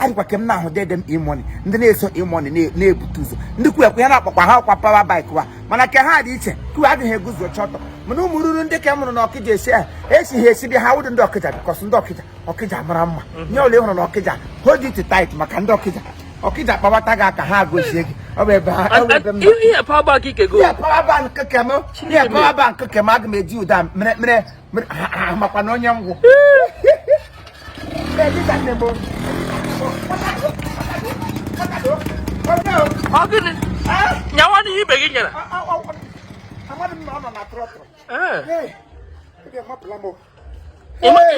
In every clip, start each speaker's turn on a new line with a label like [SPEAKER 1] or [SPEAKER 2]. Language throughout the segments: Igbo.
[SPEAKER 1] adịkwa ka m na-ahụ dede m E-Money ndị na-eso E-Money na-ebute ụzọ ndị kwu ekwe ya na-akpakwa ha ọkwa power bike wa mana ka ha dị iche kwu adịghị eguzo chọtọ mana ụmụ ruru ndị ka m mụrụ na ọkịja esi ahụ esi ha esi dị ha wụdị ndị ọkịja because ndị ọkịja ọkịja mara mma mhm. onye ole hụrụ nwa ọkịja hold it tight maka ndị ọkịja ọkịja kpawata gị aka ha gozie gị ọ bụ ebe ha
[SPEAKER 2] ihe power
[SPEAKER 1] bank keke m aga m eji ụda mere makwa na onye
[SPEAKER 2] ngwụ nyawa n'ihe ibe gị nyere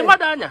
[SPEAKER 2] mmadụ anya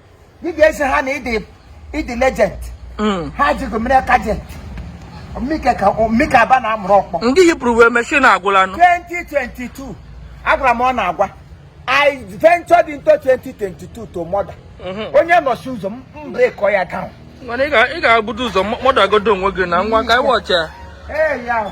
[SPEAKER 1] ị ga-asị ha na ịdị ịdị legend mm. ha jigo m mere ka agent mmike aba na amụrụ ọkpọ ndị yipụrụ wee mechi na
[SPEAKER 2] agwụla nụ 2022
[SPEAKER 1] agwara m unu agwa I ventured into 2022 to murder mm-hmm. onye nọchi ụzọ m breakuo ya down mana ị
[SPEAKER 2] ga-ebudo ụzọ murder godo onwe gị na nwa ka anyị watch ya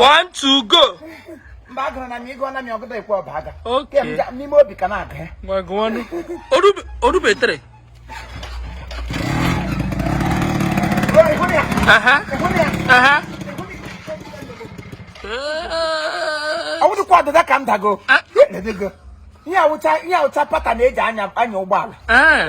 [SPEAKER 1] one
[SPEAKER 2] two go mba agụrụ na
[SPEAKER 1] m ịgụ na m ọgụda ekwe ọba aga Okay. Kem ja- n'ime
[SPEAKER 2] obi ka
[SPEAKER 1] na-agụ ya ngwa gụọ
[SPEAKER 2] ọnụ Orube- orubetere Ruo, ị hụrụ ya aha ị hụrụ ya
[SPEAKER 1] aha Ee, ọ bụdịkwa ọdịda ka m dago Ah. Edego. ihe a wụcha ihe a wụcha pata na eji anya anya ụgbọala ee.